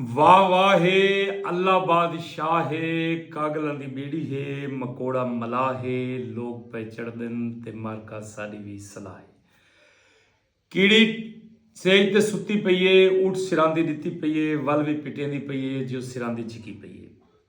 واہ واہ ہے اللہ باد شاہ ہے کاگلاں دی بیڑی ہے مکوڑا ملاح ہے لوک پئے چڑھدن تے مارکا ساڈی وی صلاح ہے کیڑی سیج تے ستی پئی ہے اٹھ سراندی ڈتی پئی ہے ول وی پٹیندی پئی ہے جو سراندی چھکی پئی ہے۔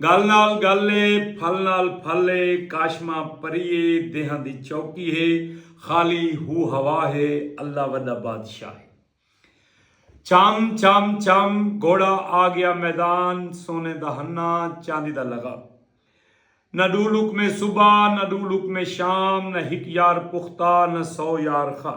گل نال گل اے پھل نال پھل اے کاشمہ پری اے دیہاں دی چوکی ہے خالی ہو ہوا ہے اللہ وڈا بادشاہ ہے چم چم چم گھوڑا آگیا میدان سونے دا ہنا چاندی دا لغا نہ ڈو لکمے صبح نہ ڈو لکمے شام نہ ہک یار پختہ نہ سو یار خا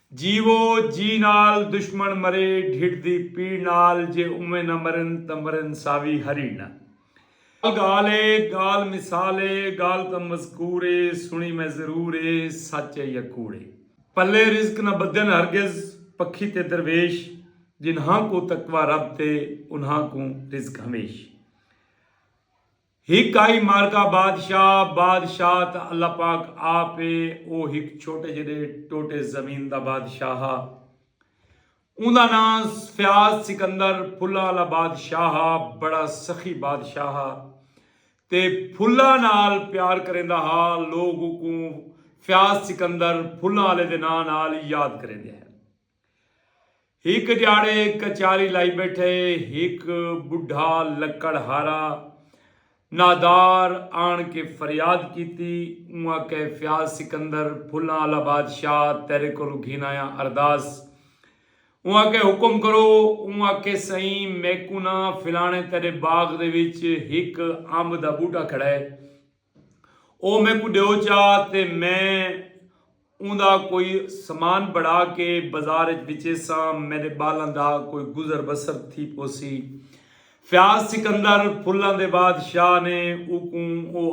جیوو جی نال دشمن مرے ڈھڈ دی پیڑ نال جے اوویں نہ مرن تاں مرن ساوی ہریڑ نال۔ گالھ اے گالھ مثال اے گالھ تاں مذکور اے سنڑی میں ضرور اے سچ اے یا کوڑ اے۔ پلے رزق نہ بدھن ہرگز پکھی تے درویش جنہاں کوں تقوی رب تے انہاں کوں رزق ہمیش۔ ہک آئی مارکا بادشاہ، بادشاہ تاں اللہ پاک آپ ہے، او ہک چھوٹے جیڈے ٹوٹے زمین دا بادشاہ ہا۔ اوندا ناں فیاض سکندر پھلاں آلا بادشاہ ہا، بڑا سخی بادشاہ ہا تے پھلاں نال پیار کریندا ہا، لوگ اوکوں فیاض سکندر پھلاں آلے دے ناں نال یاد کریندے ہن۔ ہک جاڑے کچاری لائی بیٹھے ہک بڈھا لکڑ ہارا نادار آن کے فریاد کیتی اوں آکھے فیاض سکندر پھلاں آلا بادشاہ تیرے کولوں گھن آیاں ارداس اوں آکھے حکم کرو اوں آکھے سئیں میکوں نہ فلانے تیرے باغ دے وچ ہک امب دا بوٹا کھڑا ہے او میکوں ڈیو چا تے میں اوندا کوئی سمان بنڑا کے بزار اچ وچیساں میڈے بالاں دا کوئی گزر بسر تھی پوسی۔ فیاض سکندر پھلاں دے بادشاہ نے اوکوں او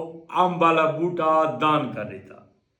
امب آلا بوٹا دان کر ڈتا۔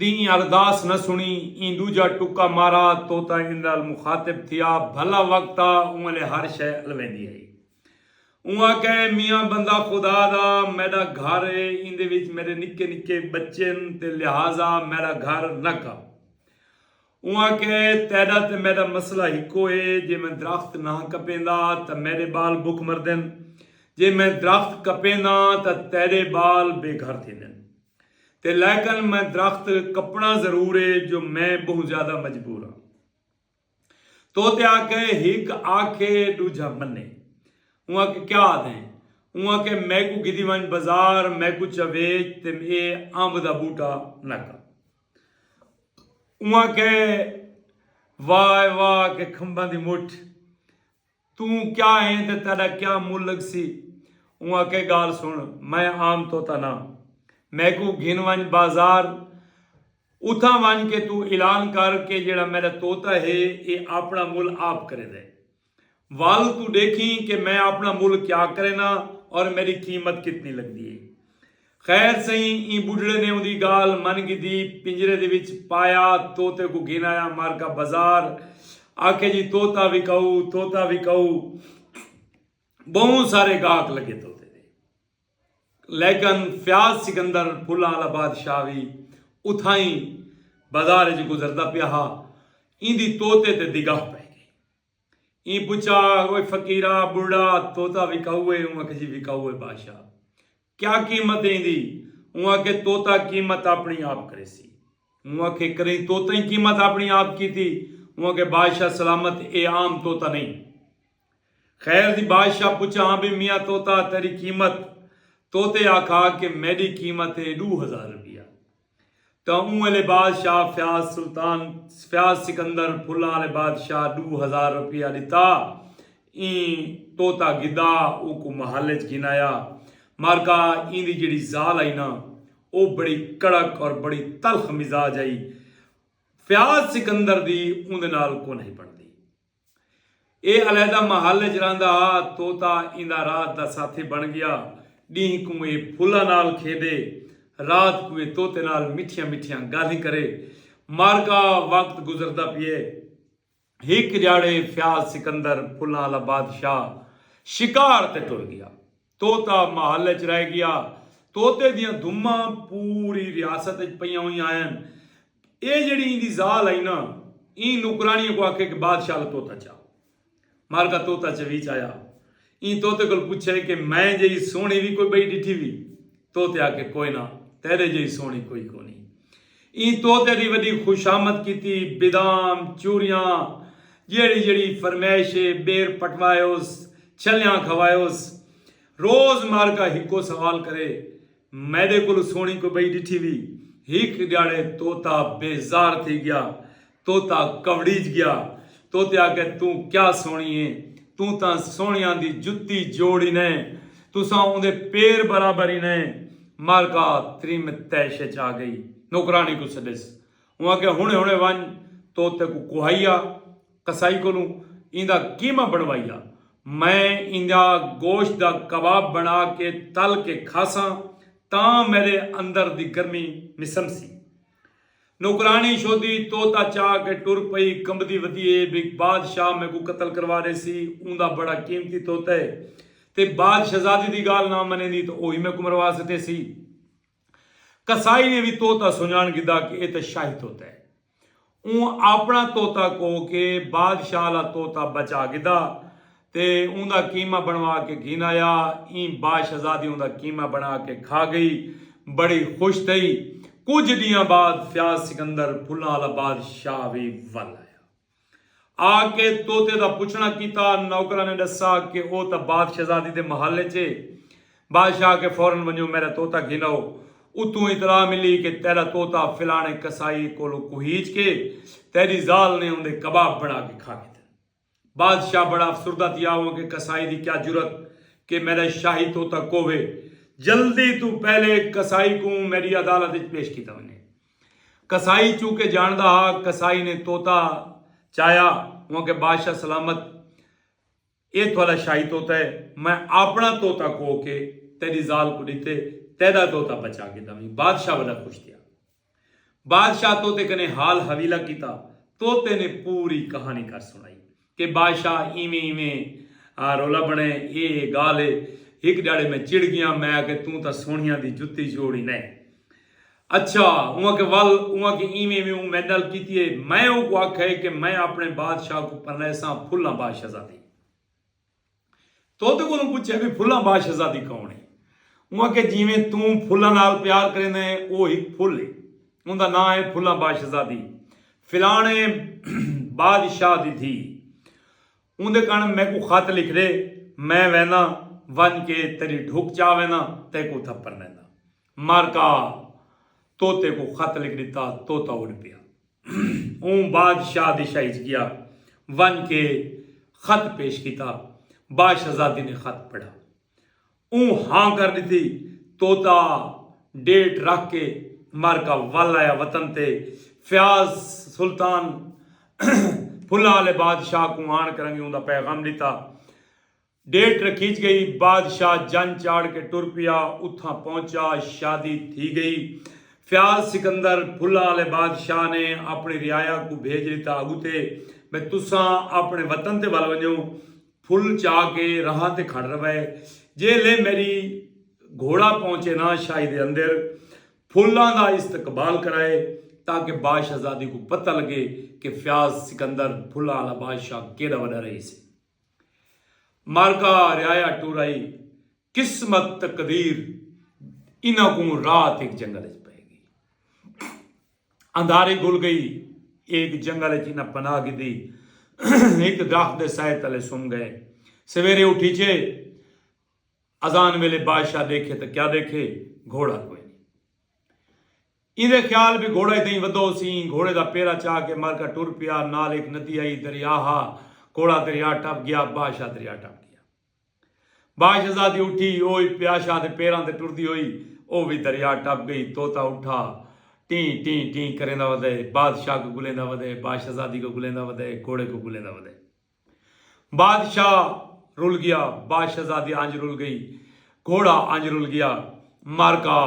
دیں ارداس نہ سنڑی ایں ڈوجھا ٹکا مارا طوطا ایندال مخاطب تھیا بھلا وقت آ اوں الے ہر شے الویندی ہئی اوں آکھے میاں بندہ خدا دا میڈا گھر اے ایندے وچ میڈے نکے نکے بچے ہن تے لہذا میڈا گھر نہ کپ اوں آکھیا اے تیڈا تے میڈا مسئلہ ہکو اے جے میں درخت نہ کپیندا تاں میڈے بال بکھ مردن جے میں درخت کپینداں تاں تیڈے بال بے گھر تھیندن تے لیکن میں درخت کپنڑاں ضرور اے جو میں بہوں زیادہ مجبور آں تو تے آکھیا اے ہک آکھے ڈوجھا منے اوں آکھیا کیا آدھیں اوں آکھیا میکوں گھدی ونج بزار میکوں چا ویچ تے اے امب دا بوٹا نہ کر۔ اواں کہ واہ اے واہ کہ کھمباں دی مٹھ توں کیا ایں تے تیڈا کیا مل لگسی اواں کہ گال سن میں عام طوطا ناں میکوں گھن ونج بازار اتھاں ونج کے توں اعلان کر کے جیڑھا میڈا طوطا ہے اے آپنڑا مل آپ کریندے۔ ول توں ڈیکھیں کہ میں اپنا مل کیا کرینداں اور میڈی قیمت کتنی لگدی اے۔ خیر سئیں ایں بڈھڑے نے اوندی گالھ من گھدی پنجرے دے وچ پایا طوطے کوں گھن آیا مارکا بزار آکھے جی طوطا وکاؤ طوطا وکاؤ بہوں سارے گاہک لگے طوطے دے۔ لیکن فیاض سکندر پھلاں آلا بادشاہ وی اتھائیں بازار اچ گزردا پیا ہا۔ ایندی طوطے تے دگاہ پئے گئی۔ ایں پچھا، اوئے فقیرا، بڑھڑا، طوطا وکاؤ اے؟ اوں آکھیسی، وکاؤ اے بادشاہ۔ کیا قیمت اے ایندی؟ اوں آکھے، طوطا قیمت آپنڑی آپ کریسی۔ اوں آکھے، کریں طوطئیں قیمت آپنڑی آپ کیتی؟ اوں آکھے، بادشاہ سلامت اے عام طوطا نئیں۔ خیر دی بادشاہ پچھا ہاں بھئی میاں طوطا تیڈی قیمت؟ طوطے آکھا کہ میڈی قیمت ہے ڈو ہزار روپیہ۔ تاں اوں ویلے بادشاہ فیاض سلطان فیاض سکندر پھلاں آلے بادشاہ ڈو ہزار روپیہ ڈتا ایں طوطا گھدا اوکوں محل اچ گھن آیا مارکا ایندی جیڑھی زال ہئی نا او بڑی کڑک اور بڑی تلخ مزاج ہئی فیاض سکندر دی اوندے نال کونہی بنڑدی۔ ایہ علیحدہ محل اچ رہندا ہا۔ طوطا ایندا رات دا ساتھی بݨ ڳیا۔ ݙینھ کوں ایہ پھلاں نال کھیݙے، رات کوں ایہ طوطے نال مٹھیاں مٹھیاں ڳالھیں کرے۔ مارکا وقت گزردا پیئے۔ ہک ڄاڑے فیاض سکندر پھلاں آلا بادشاہ شکار تے ٹر ڳیا۔ طوطا محل اچ رہ گیا۔ طوطے دیاں دھماں پوری ریاست اچ پئیاں ہوئیاں ہن۔ ایہ جیہڑی ایندی ذال ہئی نا ایں نوکرانیاں کوں آکھے کہ بادشاہ آلا طوطا چاؤ۔ مارکا طوطا چویچ آیا۔ ایں طوطے کول پچھے کہ میں جیہی سوہݨی وی کوئی ٻئی ݙٹھی وی؟ طوطے آکھے کوئ نہ تیݙے جیہی سوہݨی کوئی کونہی۔ ایں طوطے دی وݙی خوشامد کیتی بدام، چوریاں، جیڑھی جیڑھی فرمائش اے ٻیر پٹوائیوس، چھلیاں کھوائیوس۔ روز مارکا ہکو سوال کرے، میݙے کولوں سوہݨی کوئی ٻئی ݙٹھی وی؟ ہک ݙیہاڑے طوطا بیزار تھی ڳیا۔ طوطا کؤڑیج گیا۔ طوطے آکھیا توں کیا سوہنی ایں۔ توں تاں سوہنیاں دی جتی جوڑ ای نئیں۔ تساں اوندے پیر برابر ای نئیں۔ مارکا تریم طیش اچ آ گئی۔ نوکرانی کوں سڈیس۔ اوں آکھیا ہنڑے ہنڑے ونج طوطے کوں کوہائی آ۔ قصائی کولوں ایندا قیمہ بنڑوائی آ۔ میں ایندا گوشت دا کباب بنڑا کے تل کے کھاساں تاں میڈے اندر دی گرمی مسمسی۔ نوکرانی شودی طوطا چا کے ٹر پئی کمبدی ودی اے بھئی بادشاہ میکوں قتل کروا ریسی اوندا بڑا قیمتی طوطا اے تے باد شہزادی دی گالھ نہ منیندی تاں اوہی میکوں مروا سٹیسی قصائی نے وی طوطا سنجان گھدا کے اے تاں شاہی طوطا اے اوں آپنڑا طوطا کوہ کے بادشاہ آلا طوطا بچا گھدا تے اوندا قیمہ بݨوا کے گھیندا یا ایں با شہزادی اوندا قیمہ بݨا کے کھا گئی بڑی خوش تھئی کجھ ݙینہاں بعد فیاض سکندر پھلاں آلا باد شاہ وی ول آیا آ کے طوطے دا پچھݨا کیتا نوکراں نے ݙسا کے او تاں باد شہزادی دے محل اچ اے باد شاہ آکھے فورا ونجو میݙا طوطا گھیناؤ اتھوں اطلاع ملی کے تیݙا طوطا فلاݨے قصائی کولوں کوہیچ کے تیݙی ذال نے اوندے کباب بݨا کے کھا گھدن۔ بادشاہ بڑا افسردہ تھیا اوہ کہ قصائی دی کیا جرات کہ میڈا شاہی طوطا کوہوے۔ جلدی توں پہلے قصائی کوں میڈی عدالت اچ پیش کیتا ونجے۔ قصائی چونکہ جانڑدا ہا قصائی نے طوطا چایا اوہ کہ بادشاہ سلامت ایہ تھولا شاہی طوطا ہے میں آپنڑا طوطا کوہ کے تیڈی زال کوں ڈتے تیڈا طوطا بچا گھدا ویں۔ بادشاہ وڈا خوش تھیا۔ بادشاہ طوطے کنیں حال حویلہ کیتا۔ طوطے نے پوری کہانی کر سنڑائی کہ بادشاہ ایویں ایویں رولا بنڑے اے اے گالھ اے۔ ہک ڈیہاڑے میں چڑ گیاں میں آکھے توں تاں سونہیاں دی جتی جوڑی نئیں۔ اچھا اوں آکھے ول اوں آکھے ایویں ایویں اوں میڈے نال کیتی اے۔ میں اوں کوں آکھے کہ میں اپنڑے بادشاہ کوں پرنیساں پھلاں بادشاہزادی۔ توتے کولوں پچھیا وی پھلاں با شہزادی کون ہے؟ اوں آکھیا جیویں توں پھلاں نال پیار کریندے ہیں او ہک پھل ہے اوندا ناں ہے پھلاں با شہزادی فلانے بادشاہ دی دھی اوندے کن میکوں خط لکھ ڈے میں وینداں ونج کے تیڈی ڈھک چا وینداں تیکوں تھپر ڈینداں مارکا طوطے کوں خط لکھ ݙتا، طوطا اݙ پیا۔ اوں بادشاہ دی شاہی اچ ڳیا۔ ونڄ کے خط پیش کیتا۔ باشہزادی نے خط پڑھا۔ اوں ہاں کر ݙتی۔ طوطا ݙیٹ رکھ کے مارکا ول آیا۔ وطن تے فیاض سلطان پھلاں آلے بادشاہ کوں آݨ کرنگے اوندا پیغام ݙتا۔ ڈیٹ رکھیج گئی۔ بادشاہ جن چاڑھ کے ٹر پیا۔ اتھاں پہنچا۔ شادی تھی گئی۔ فیاض سکندر پھلاں آلے بادشاہ نے اپنی رعایا کوں بھیج ڈتا اگتے بھئی تساں اپنے وطن تے ول ونجو۔ پھل چا کے راہاں تے کھڑ روے۔ جے لے میری گھوڑا پہنچے نا شاہی دے اندر پھلاں دا استقبال کرائے تاکہ باشہزادی کوں پتہ لگے کہ فیاض سکندر پھلاں آلا بادشاہ کیڈا وڈا رہیسی۔ مرگا رعایا ٹورائی قسمت تقدیر انہاں کوں رات ایک جنگل اچ پئے گئی اندھاری گھل گئی ایک جنگل اچ انہاں پناہ گھدی ایک درخت دے سائے تلے سم گئے سویرے اٹھی چھے اذان ویلے بادشاہ دیکھے تو کیا دیکھے گھوڑا کوئی ایندے خیال بی گھوڑا اتھائیں ودھو ہوسی۔ ایں گھوڑے دا پیرا چا کے مرکہ ٹر پیا۔ نال ہک ندی آئی دریا ہا۔ گھوڑا دریا ٹپ گیا۔ بادشاہ دریا ٹپ گیا۔ بادشزادی اٹھی او ئی پیاشاہ دے پیراں تے ٹردی ہوئی۔ او وی دریا ٹپ گئی۔ طوطا اٹھا۔ ٹیں ٹیں ٹیں کریندا ودئے۔ بادشاہ کوں گلیندا ودئے۔ بادشزادی کوں گلیندا ودئے۔ گھوڑے کوں گلیندا ودئے۔ بادشاہ رل گیا باشہزادی انج رل گئی گھوڑا انج رل گیا معرکہ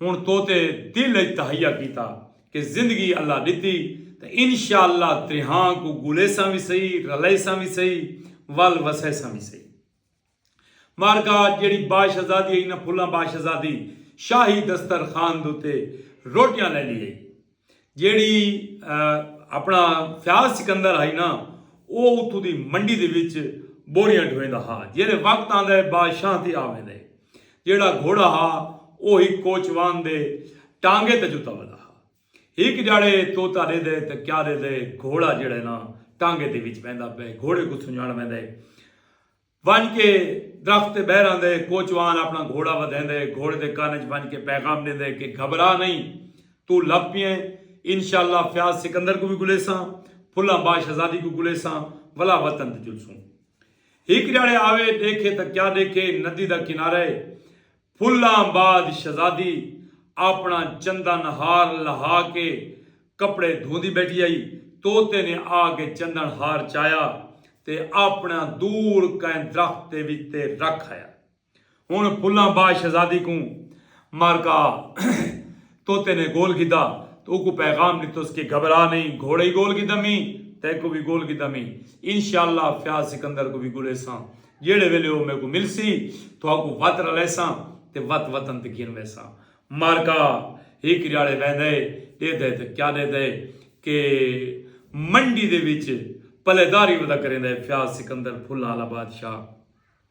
ہن توتے دل اچ تہیا کیتا کہ زندگی اللہ ڈتی تاں انشاء اللہ تریہاں کوں گلیساں وی سہی رلیساں وی سہی ول وسیساں وی سہی۔ معرکہ اچ جیڑھی باشہزادی ہئی نہ پھلاں باشہزادی شاہی دستر خوان دوتے روٹیاں لیندی ہئی جیڑھی اپنا فیاض سکندر ہئی نہ او اتھوں دی منڈی دے وچ بوریاں ڈھویندا ہا جیلے وقت آندا ہے باشاہ تے آویندا ہے جیڑھا گھوڑا ہا او ہک کوچوان دے ٹانگے تے جتا ودا ہا ہک جاڑے توتا ڈیدا ہے تے کیا ڈیدا ہے گھوڑا جیڑھا ہے نہ ٹانگے دے وچ بیندا پئے گھوڑے کوں سنجاݨ ویندا ہے ونڄ کے درخت تے ٻہہ رہندے، کوچوان اپݨا گھوڑا ودھیندے، گھوڑے دے کن اچ ونڄ کے پیغام ݙیندے کہ گھبرا نئیں، توں لبھ پیئیں، انشاء اللہ فیاض سکندر کوں وی گھلیساں، پھلاں باش آزادی کوں گھلیساں، ولا وطن تے چلسوں۔ ہک ݙیہاڑے آوے، ݙیکھے تاں کیا ݙیکھے، ندی دا کنارہ اے، پھلاں بعد شہزادی آپݨا چنداں نہار لہا کے کپڑے دھوندی ٻیٹھی ہئی۔ طوطے نے آ کے چندݨ ہار چایا تے آپݨا دور کہیں درخت دے وچ تے رکھ آیا۔ ہݨ پھلاں بعد شہزادی کوں مارکا۔ طوطے نے گول گھدا تے اوکوں پیغام ݙتس کہ گھبرا نئیں گھوڑے ای گول گھدمی تیکوں وی گول گھدمی انشاء اللہ فیاض سکندر کوں وی گھلیساں جیڑھے ویلے او میکوں ملسی تہاکوں وت رلیساں تے وت وطن تے گھن ویساں معرکہ ہک جاڑے ویندے ݙیدھے تے کیا ݙیدھے کہ منڈی دے وچ پلے داری ودا کریندے فیاض سکندر پھلاں آلا بادشاہ۔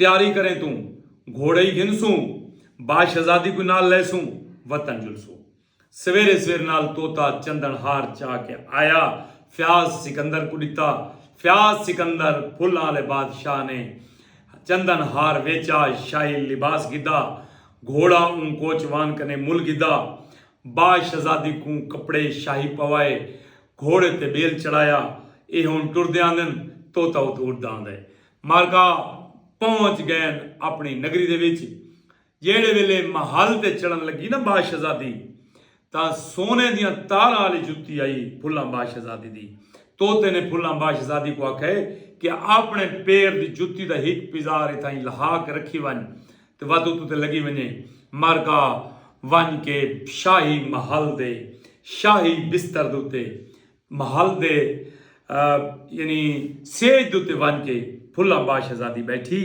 تیاری کریں توں گھوڑے ای گھنسوں با شہزادی کوں نال لیسوں وطن جلسوں سویرے سویر نال طوطا چندن ہار چا کے آیا فیاض سکندر کوں ڈتا فیاض سکندر پھلاں آلے بادشاہ نے چندن ہار ویچا شاہی لباس گھدا گھوڑا اوں کوچ وان کنے مل گھدا با شہزادی کوں کپڑے شاہی پوائے گھوڑے تے بیل چڑھایا ایہ ہن ٹردے آندن طوطا اتھوں اڈدا آندے مارکا پہنچ گئن اپنی نگری دے وچ۔ جیہڑے ویلے محل تے چڑھن لگی نہ باشہزادی تاں سونے دیاں تاراں آلی جتی آئی پھلاں باشہزادی دی۔ طوطے نے پھلاں باشہزادی کوں آکھئے کہ آپنے پیر دی جتی دا ہک پزار اتھائیں لہا کے رکھی ونج تے وت اتوں تے لگی ونجے۔ مارکا ونج کے شاہی محل دے شاہی بستر دے اتے محل دے یعنی سیج دے اتے ونج کے پھلاں با شہزادی بیٹھی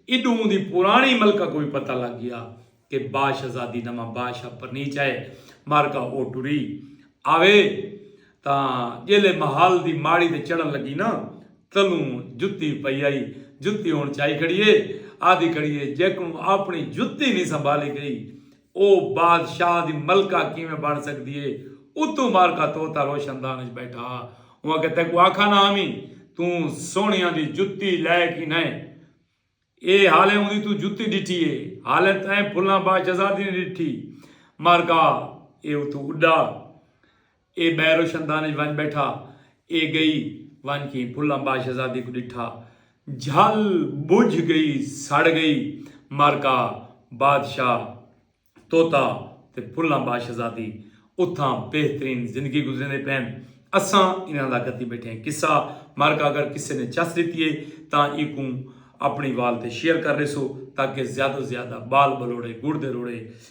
ایڈوں اوندی پرانی ملکہ کو وی پتہ لگ گیا کہ با شہزادی نواں با شاہ پرنیچ آئے مارکا او ٹری آوے تاں جیلے محل دی ماڑی تے چڑھن لگی نا تلوں جتی پئی آئی جتی ہن چائی کھڑی اے آدھی کھڑی اے جیکوں اپنی جتی نی سنبھالی گئی او بادشاہ دی ملکہ کیویں بݨ سڳدی اے؟ اتوں معرکہ طوطا روشن دان اچ ٻیٹھا ہا۔ اوں آکھیا تیکوں آکھا نہ ہامی توں سوہݨیاں دی جتی لئے کی نئیں؟ اے حالیں اوندی توں جتی ݙٹھی اے۔ حالیں تئیں پھلاں باشزادی نئیں ݙٹھی۔ معرکہ اے اتوں اݙا۔ اے ٻئے روشندان اچ ونڄ ٻیٹھا۔ اے ڳئی ونڄ کھیں پھلاں ٻا شہزادی کوں ݙٹھا۔ جھل ٻجھ ڳئی سڑ ڳئی معرکہ بادشاہ طوطا تے پھلاں ٻا شہزادی اتھاں بہترین زندگی گزریندے پئن اساں انہاں دا گھتی ٻیٹھے قصہ معرکہ اگر کسے نے چس ݙتی اے تاں ایکوں اپݨی وال تے شیئر کر ݙیسو تاکہ زیادو زیادہ ٻال ٻلوڑے ڳڑ دے روڑے